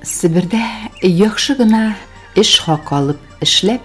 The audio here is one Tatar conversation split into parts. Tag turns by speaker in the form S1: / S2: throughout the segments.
S1: Себердә яхшы гына эш хакы алып эшләп,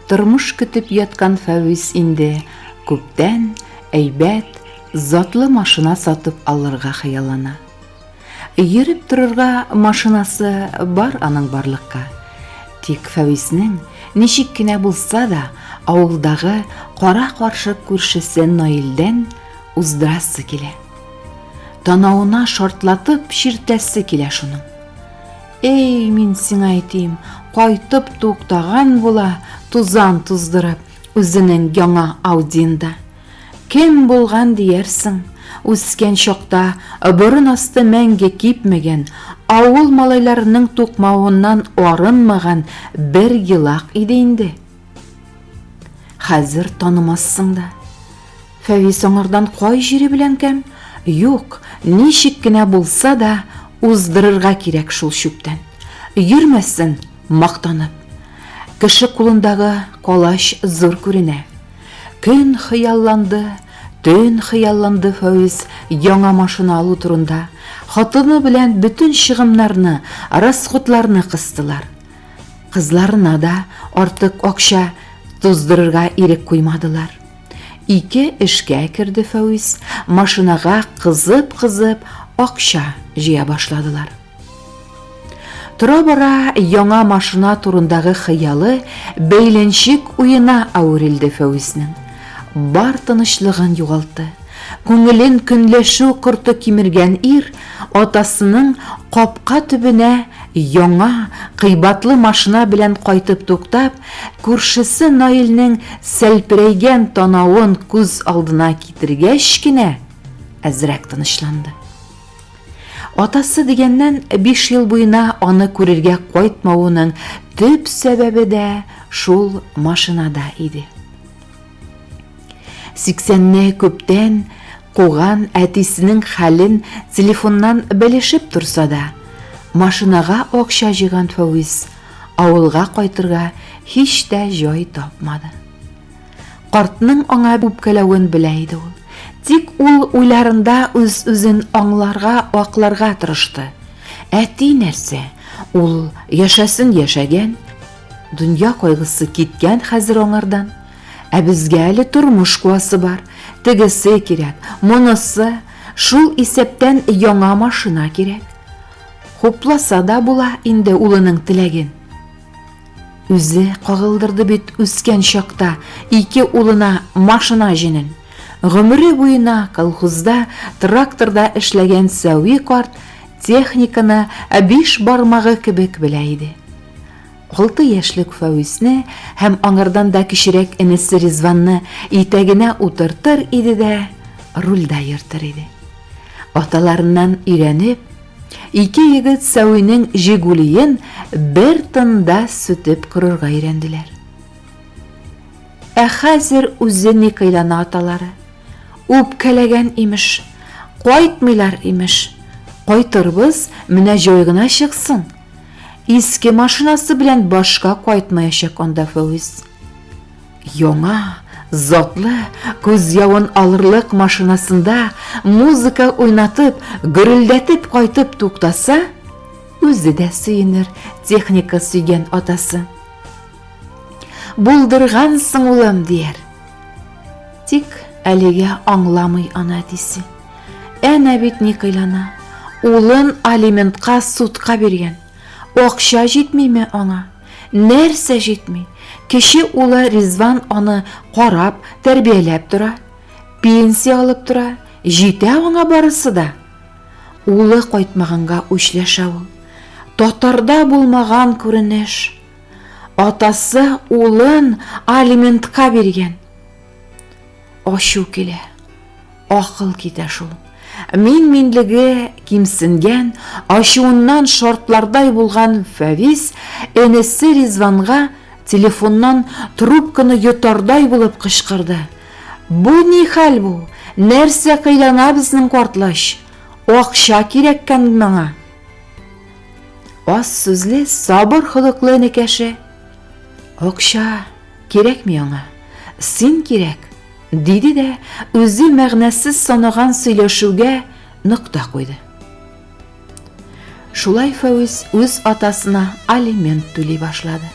S1: тормыш көтеп яткан Фәвис инде күптән әйбәт, затлы машина сатып алырга хыяллана. Йөреп торырга машинасы бар аның барлыкка. Тик Фәвиснең ничек кенә булса да авылдагы кара-каршы күршесе Наилдән уздырасы килә. Танавына шартлатып чиртәсе килә шуның. Эй, мин сиңа әйтим, кайтып туктаган була, тузан туздырып, үзенең яңа Аудинда. Кем булган диярсең? Үскән чакта борын асты мәңге кипмәгән, авыл малайларының тукмавыннан арынмаган бер елак иде инде. Хәзер танымассың да. Фәвис аңардан кай җире белән кәм? Юк, ничек кенә булса да уздырырга кирәк шул чүптән. Йөрмәсен мактанып. Кеше кулындагы колач зур күренә. Көн хыялланды, төн хыялланды Фәвис яңа машина алу турында. Хатыны белән бөтен чыгымнарны, расходларны кыстылар. Кызларына да артык акча туздырырга ирек куймадылар. Ике эшкә керде Фәүис, машинага кызып-кызып акча җыя башладылар. Тора-бара яңа машина турындагы хыялы бәйләнчек уена әверелде Фәүиснең. Бар тынычлыгын югалтты. Күңелен көнләшү корты кимергән ир Атасының капка төбенә яңа, кыйбатлы машина белән кайтып туктап, күршесе Наилнең сәлперәйгән танавын күз алдына китергәч кенә әзрәк тынычланды. Атасы дигәннән биш ел буена аны күрергә кайтмавының төп сәбәбе дә шул машинада иде. Сиксәнне күптән куган әтисенең хәлен телефоннан белешеп торса да, машинага акча җыйган Фәвис авылга кайтырга һич тә җай тапмады. Картның аңа үпкәләвен белә иде ул. Тик ул уйларында үз-үзен аңларга, акларга тырышты. Әти нәрсә, ул яшәсен яшәгән, дөнья кайгысы киткән хәзер аңардан. Ә безгә әле тормыш куасы бар, тегесе кирәк, монысы, шул исәптән яңа машина кирәк. Хупласа да була инде улының теләген. Үзе кагылдырды бит үскән чакта ике улына машина җенен. Гомере буена колхозда тракторда эшләгән Сәви карт техниканы биш бармагы кебек белә иде. Алты яшьлек Фәвисне һәм аңардан да кечерәк энесе Ризванны итәгенә утыртыр иде дә, рульдә йөртер иде. Аталарыннан өйрәнеп, ике егет Сәвинең Жигулиен бер тында сүтеп корырга өйрәнделәр. Ә хәзер үзе ни кыйлана аталары. Үпкәләгән имеш, кайтмыйлар имеш. Кайтырбыз, менә җай гына чыксын. Иске машинасы белән башка кайтмаячак анда Фәүз. Яңа, затлы, күз явын алырлык машинасында музыка уйнатып, гөрелдәтеп кайтып туктаса, үзе дә сөенер техника сөйгән атасы. Булдыргансың, улым, дияр. Тик әлегә аңламый ана әтисе. Әнә бит ни кыйлана. Улын алиментка судка биргән. Акча җитмиме аңа? Нәрсә җитми? Кече улы Ризван аны карап, тәрбияләп тора. Пенсия алып тора. Җитә аңа барысы да. Улы кайтмаганга үчләшә ул. Татарда булмаган күренеш. Атасы улын алиментка биргән. Ачу килә. Акыл китә шул. Мин-минлеге кимсенгән, ачуыннан шартлардай булган Фәвис энесе Ризванга телефоннан трубканы йотардай булып кычкырды. Бу ни хәл бу? Нәрсә кыйлана безнең картлач? Акча кирәккән моңа. Аз сүзле, сабыр холыклы энекәше. Акча кирәкми аңа, син кирәк, диде дә үзе мәгънәсез санаган сөйләшүгә нокта куйды. Шулай Фәүз үз атасына алимент түли башлады.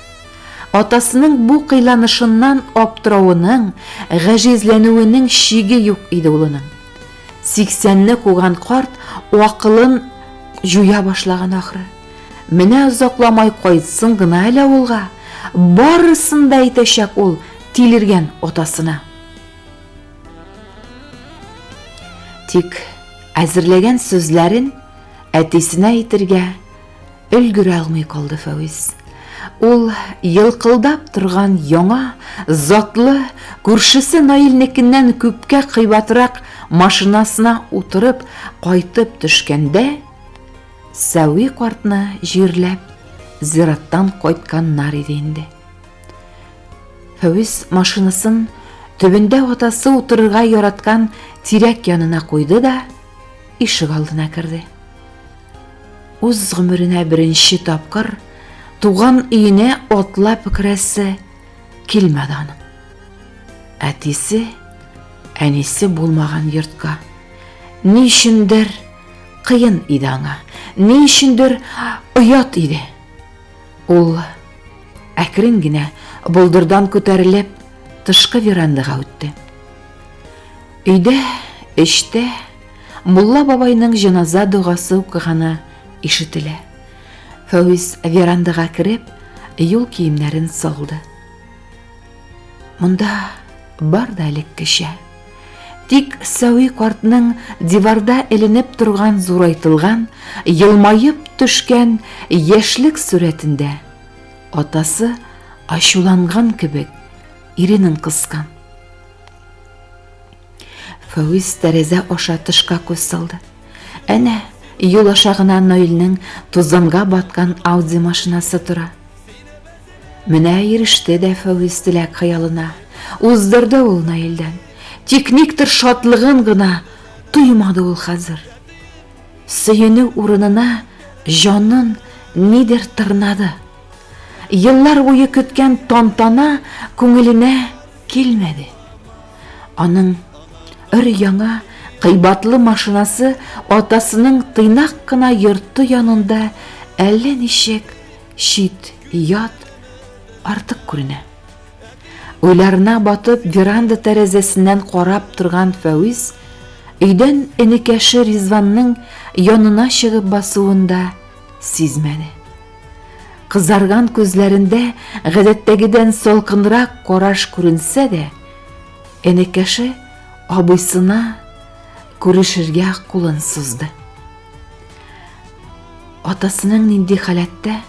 S1: Атасының бу кыйланышыннан аптыравының, гаҗизләнүенең чиге юк иде улының. Сиксәнне куган карт акылын җуя башлаган ахры. Менә озакламай кайтсын гына әле авылга. Барысын да әйтәчәк ул тилергән атасына. Тик әзерләгән сүзләрен әтисенә әйтергә Өлгерә алмый калды Фәвис. Ул елкылдап торган яңа, затлы, күршесе Наилнекеннән күпкә кыйбатрак машинасына утырып кайтып төшкәндә, Сәви картны җирләп, зираттан кайтканнар иде инде. Фәвис машинасын төбендә атасы утырырга яраткан тирәк янына куйды да ишек алдына керде. Үз гомеренә беренче тапкыр туган өенә атлап керәсе килмәде аның. Әтисе, әнисе булмаган йортка. Ни өчендер кыен иде аңа, ни өчендер оят иде. Ул әкрен генә болдырдан күтәрелеп тышкы верандага үтте. Өйдә, эчтә Мулла бабайның җеназа догасы укыганы ишетелә. Фәүз верандага кереп, юл киемнәрен салды. Монда бар да элеккечә. Тик Сәви картның диварда эленеп торган зурайтылган, елмаеп төшкән яшьлек сурәтендә атасы ачуланган кебек иренен кыскан. Фәүз тәрәзә аша тышка күз салды. Әнә, юл аша гына Наилнең тузанга баткан Ауди машинасы тора. Менә иреште дә Фәүз теләк хыялына. Уздырды ул Наилдән. Тик никтер шатлыгын гына тоймады ул хәзер. Сөенү урынына җанын нидер тырнады. Еллар буе көткән тантана күңеленә килмәде. Аның өр-яңа кыйбатлы машинасы атасының тыйнак кына йорты янында әллә ничек чит, ят, артык күренә. Уйларына батып, веранда тәрәзәсеннән карап торган Фәвиз өйдән энекәше Ризванның янына чыгып басуында Сизмәде. Кызарган күзләрендә гадәттәгедән салкынрак караш күренсә дә, энекәше абыйсына күрешергә кулын сузды. Атасының нинди халәттә,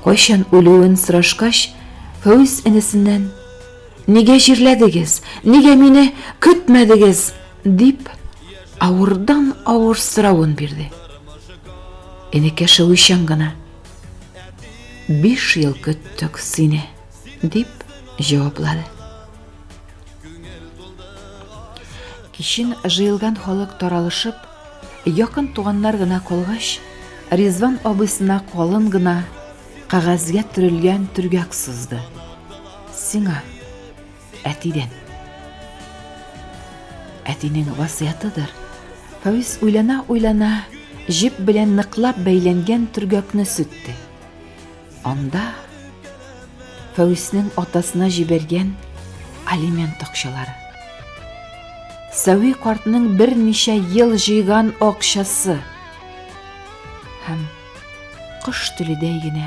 S1: кайчан үлүен сорашкач, Фәүз энесеннән: "Нигә җирләдегез? Нигә мине көтмәдегез?" Дип, авырдан-авыр соравын бирде. Энекәш уйчан гына. Биш ел көттек сине, дип җаваплады. Кичен җыелган халык таралышып, якын туганнар гына калгач, Ризван абысына калын гына кагазьгә төрелгән төргәк сузды. Сиңа Әтидән. Әтинең васыятыдыр. Фәвис уйлана-уйлана җеп белән ныклап бәйләнгән төргәкне сүтте. Анда Фәвиснең атасына җибәргән алимент акчалары. Сәви картның берничә ел җыйган акчасы һәм кош теледәй генә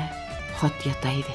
S1: хат ята иде.